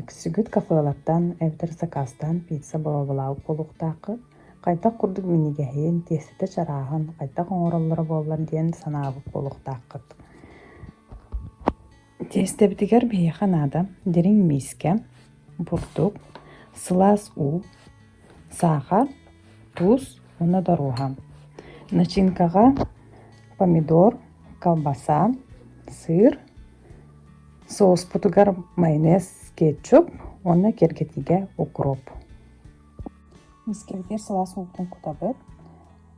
Үксүгүт хафыалартан эбэтэр сакаастан пицца боруобалаабыт буолуохтааххыт, хайдах курдук минигэһин, тиэстэтэ чарааһын, хайдах оҥороллоро буоллар диэн санаабыт буолуохтааххыт. Тиэстэбитигэр биһиэхэ наада дириҥ миискэ, бурдук, сылаас уу, саха, тус уонна доруоһа. Начинкаҕа помидор, колбаса, сыр, сууспутугар майонез, кетчуп уонна кэргэтиигэ укроп. Мискэбитигэр сылаас уутун кутабыт,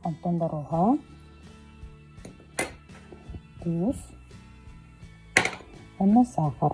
онтон доруоһа, тус уонна сахар.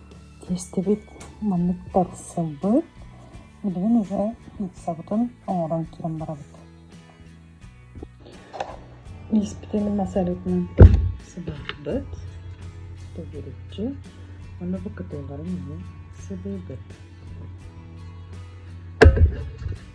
Иэстэбит маннык тарсылбыт, билигин уже ыксабытын оҥорон туран барабыт. Ииспитин мас арытынан сыбыырбыт, төгүрүччү, аны бу кытыыларын иһин сыбыыбыт.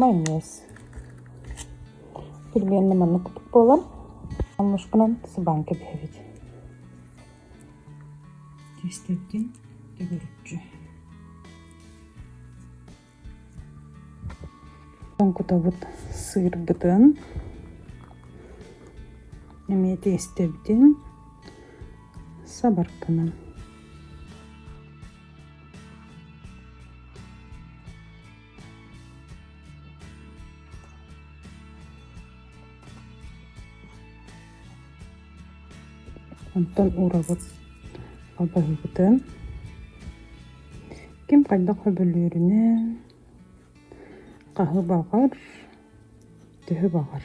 майонез иккилиэннэ маннык курдук буолан муннушканан сыбаан кэбиһэбит кистэлгин төгүрүччү тоҥкутобут сыырбытын эмиэ тиэстэбитин сабарканан Онтон уурабыт албаһыыбытын ким хайдах хөбүлүүрүнэн хаһы баҕар төһө баҕар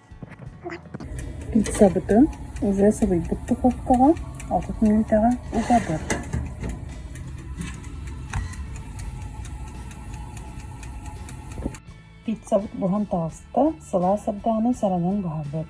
Ыксабытын уже сылыйбыт духуопкаҕа отут мүнүүтэҕэ угабыт Пиццабыт буһан таҕыста, сылаас ардаҕаны саранан буһарбыт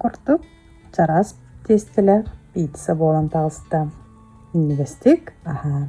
Курдук чараас тиэстэлэ пицца буолан таҕыста. Минньигэстик аһаан